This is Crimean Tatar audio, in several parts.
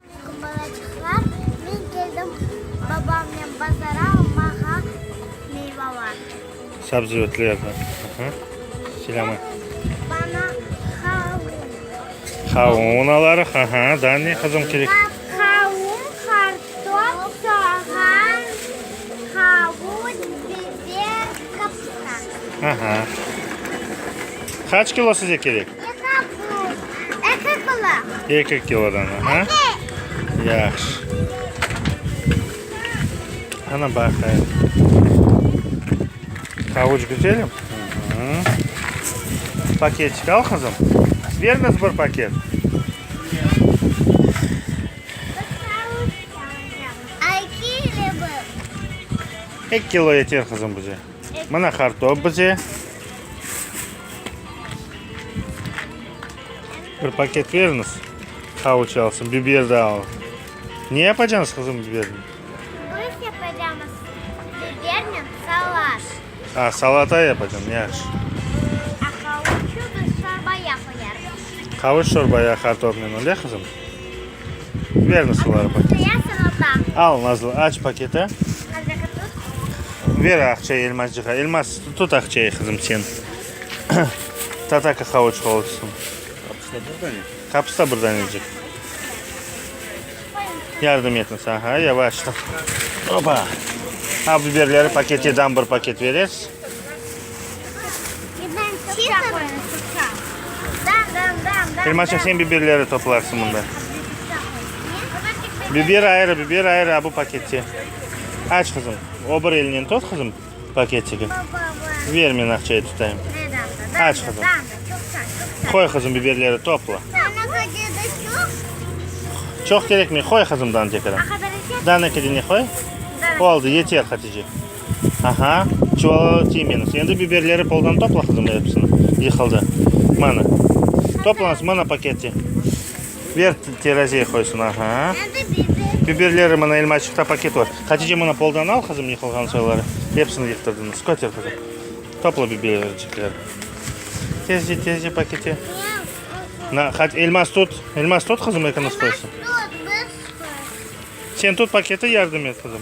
Çünki balaçıqlar, men keldim babamnen bazara almağa meyvalar. Sabzavotlar, aha, silâma. Bana havun. Havun alarıq, aha, da ne qızım kerek? Havun, kartof, soğan, havuç, biber, kapusta. Aha. Qaç kilo size kerek? Eka buz, eki kilo. Eki kilodan, aha. Eki. Yahşı. Ana baqayım. Havuç güzelim. Paketik al kızım. Ver kız bir paket. Eki kilo yeter kızım bize. Mına qartop bize. Bir paket veriñiz. Havuç alsın, biber de al. Ne yapacañız qızım biberni? Biz yapacağımız biberni salat. A, salata yapacağım, yaş. A havuçı biz çorbaya qoyarız. Havuç çorbaya qartopnen, öyle qızım? Verme suları paketi. Al Nazlı, aç paketi. Ver aqçayı Elmascığa. Elmas, tut aqçayı qızım sen. Tata qaqavıç olsun. Kapısta bir danecik. Yardım etin sağa, yavaştan. Opa. Al biberleri paketiden bir paket vereriz. Kirmançıq, sen biberleri toplarsıñ mında. Biber ayrı, biber ayrı, a bu pakette. Aç, qızım. O bir elinen tut, qızım, paketigi. Ver, men aqçayı tutayım. Aç, qızım. Qoy, qızım, biberleri topla. Çoq kerekmey, qoy, qızım, dantekada. Danekede ne qoy? Oldı, yeter, Hatice. Aha, çuvallalı tiymeñiz. Endi biberleri poldan topla, qızım, episini. Yıqıldı. Mana. Toplañız, mana paketi. Ber, terazeye qoysın. Aha. Biberleri, mana elmaçıqta paket var. Hatice, mana poldan al, qızım, yıqılğan soyları. Episini yıqtırdınız. Köter, qızım. Topla bibercikleri. Tezce, tezce paketi. Na, hat, elmas tut. Elmas tut, qızım, ekiniz qoysın. Sen tut paketi, yardım et, qızım.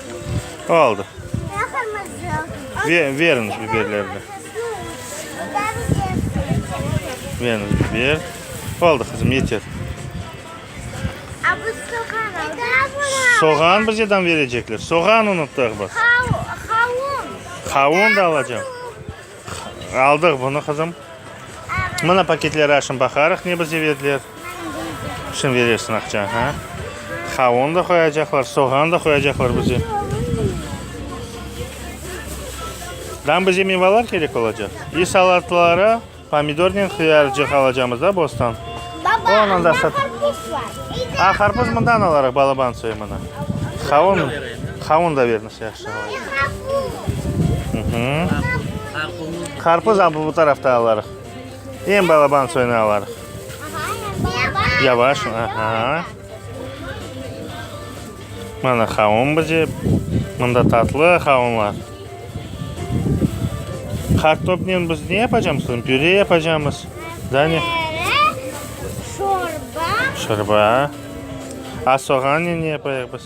Oldı. Veriñiz biberlerni. Veriñiz biber. Oldı, qızım, yeter. Soğan bizeden verecekler. Soğan unuttıq biz. Havun da alacağım. Aldıq bunı, qızım. Mına paketleri aşın baqarıq, ne bizge berdiler. Şın berersiñ aqça, ha? Qavun da qoyacaqlar, soğan da qoyacaqlar bizge. Dam bizge mevalar kerek olacaq. İ salatlara pomidornen qıyarcıq alacamız da bostan. Baba, anda qarpuz var. A, qarpuz mından alarıq, balaban soy mına. Qavun, qavun da beriniz. Qarpuz bu tarafta alarıq. Eñ balaban soyunu alarıq. Yavaş. Mana qavun bize. Mında tatlı qavunlar. Kartopnen biz ne yapacağımız? Püre yapacağımız. Püre, şorba. Şorba. A soğannen ne yapayıq biz?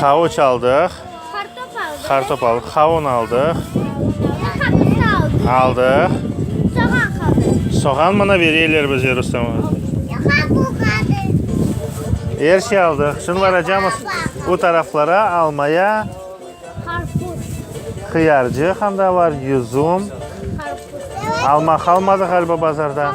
Havuç aldıq. Qartop aldıq. Qavun aldıq. Aldıq. Soğan mına bereyler bizge, Rustem aba. Er şey aldıq. Şimdi baracamız o taraflara almaya. Qıyarcıq anda bar, yüzüm. Alma qalmadı ğaliba bazarda.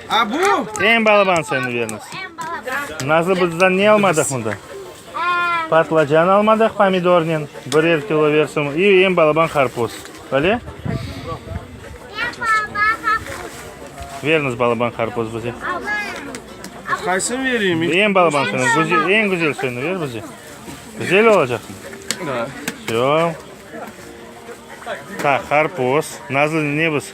Eñ balaban seni bermiz. Nazlı bızdan ne almadıq mında? Patlıcan almadıq pomidornen birer kilo bersin i eñ balaban qarpuz. Bale? Beriniz balaban qarpuz bize. Qaysın vereyim? Eñ balaban seni, güzel, eñ güzel seni ver bize. Güzel olacaq. Всё. Так, qarpuz. Nazlı ne biz?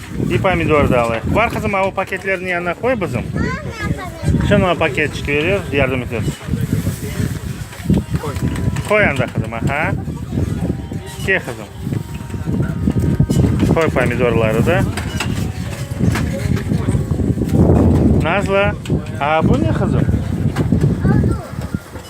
Bir pomidor da alayıq. Bar qızım, o paketlerniñ yanına qoy bizim. Şunıña paket çıqıveririz, yardım eteriz. Qoy anda qızım, aha. Ke qızım. Qoy pomidorları da. Nazlı, a bu ne qızım?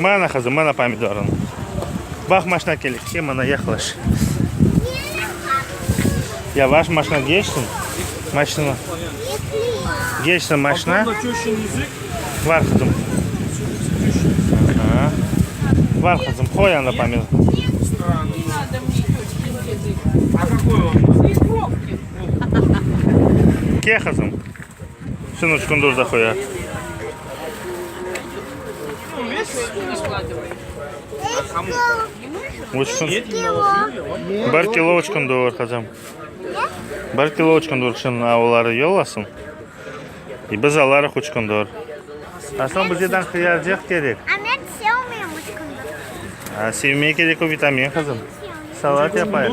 Mana qızım, mana pomidorıñ. Bax, maşna kele, ke, mana, yaqlaş. Yavaş maşna geçsin. Maşna. Geçsin maşna. Var qızım. Aha. Var qızım, qoy anda pomidor. Ke qızım. Sen üç kün dur da qoya. Üç kün. Bir kilo üç kün dur qızım. Bir kilo üç kün dur kışın oları yollasın. E biz alarıq üç kün dur. A soñ bizeden qıyarcıq kerek. A men sevmeyim üç kün dur. A sevmeye kerek o vitamin qızım. Salat yapayıq.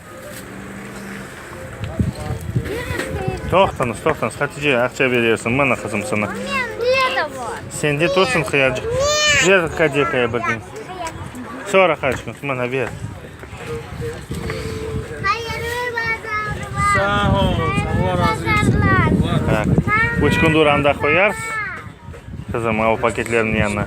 Toqtañız, toqtañız, Hatice, aqça berersiñ, mana, qızım, sana. Sende tursun qıyarcıq. Ber kadekaya bir diñ. Soora qaç kün, mana, ber. Sağ ol, Allah razı olsun. Üç kündür anda qoyarsız. Qızım, al paketlerniñ yanına.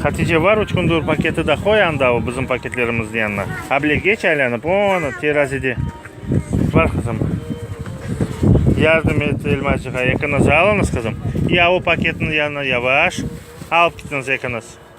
Hatice, var üç kundur paketi de qoy anda o bizim paketlerimizniñ yanına. Able geç aylanıp, onı terazide. Var qızım. Yardım et Elmazcığay, ekiniz alıñız qızım. Ya o paketniñ yanına yavaş alıp ketiñiz ekiniz.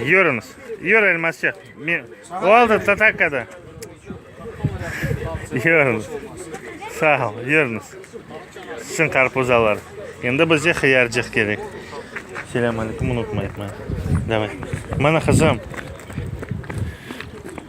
Yürüñiz. Yürü, elmasçıq. Oldı, tatakkada. Yürüñiz. Sağ ol, yürüñiz. Sizin qarpuz alar. Endi bizge hıyarcıq kerek. Selâmalikum, unutmayıq. Mana, qızım.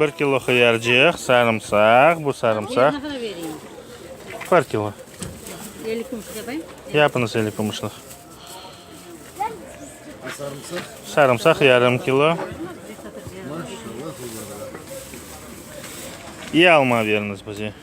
Bir kilo hıyarcıq, sarımsaq, bu sarımsaq. Bir kilo. Elli kümüş yapayım? Yapınız elli kümüşlik. Sarımsaq? Sarımsaq yarım kilo. İyi alma veriniz bize.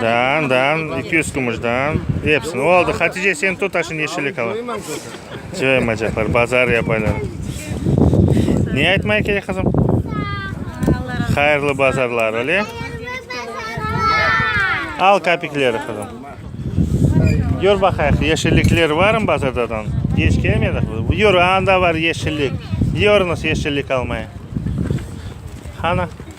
Daan, daan, iki yüz kümüş daan, epsini. Oldı, Hatice, sen tut aşı neşelik ala. Coymaycaqlar, bazar yapaylar. Ne aytmay kerek, qızım? Hayırlı bazarlar, öyle? Al kapikleri, qızım. Gör baqayıq, yeşillikler varmı bazardadan? Geç kelmedik biz. Yur, anda var yeşillik. Yiyorınız yeşillik almaya. Qana.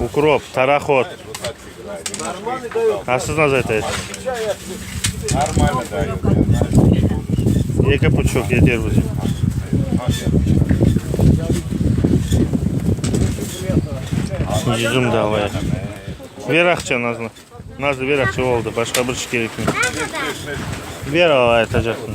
Ukrop, tarahod. A siz nasıl aytaysiz? Eki puçuk yeter bizim. Yüzüm de alayıq. Ver aqça Nazlı. Nazlı ver aqça oldu. Başqa bir şey kerekmi? Ver ala aytacaqtım.